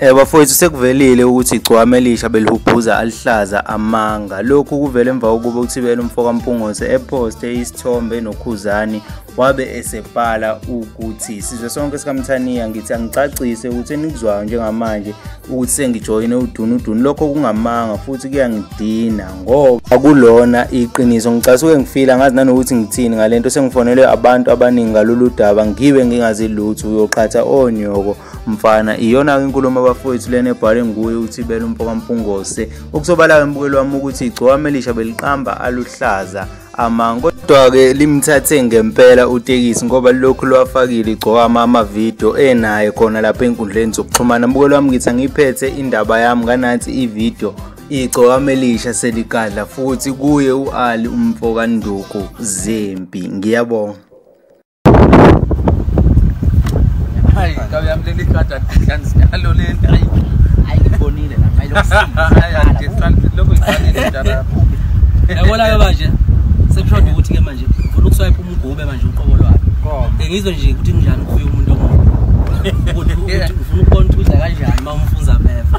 Eh bafowethu sekuvelile ukuthi igcwame elisha belihubhuza alihlaza amanga. Lokhu kuvele emva kokuba uThibela umfoka Mpungose eposte isithombe noKhuzani wabe esebhala ukuthi sizwe sonke sikaMthaniya ngithi angicacise ukuthi enikuzwayo njengamanje ukuthi sengijoyine udunudunu lokho kungamanga futhi kuyangidina ngoba akulona iqiniso ngicasuke ngifila ngazi nanokuthi ngithini ngalento sengifonelwe abantu abaningi ngalolu daba ngibe ngingazi lutho uyoqhatha onyoko mfana iyona-ke inkulumo abafowethu lena ebhale nguye uthibela umfokampungose okusobala-ke embukeli wami ukuthi igcokama elisha beliqamba aluhlaza amanga kodwa-ke limthathe ngempela utekisi ngoba lokhu lwafakile igcokama amavidiyo enaye khona lapha enkundleni zokuxhumana mbukelo wami ngithi angiyiphethe indaba yami nganathi ividiyo igcokama elisha seligadla futhi kuye u-ali umfokanduku zempi ngiyabonga Hayi, kabi yami leli card angihlani sinalo lento. Hayi. Hayi ngibonile la, hayi lokusiza. Lokho ngifanele njalo. Yabona ke manje. Sekushoda ukuthi ke manje ufuna ukuswipe umgube manje uqobo lwakhe. Ngizwe nje ukuthi kunjani kuye umuntu omuhle. Ukuthi ufuna ukubona ukuthi uza kanjani uma umfuza beva.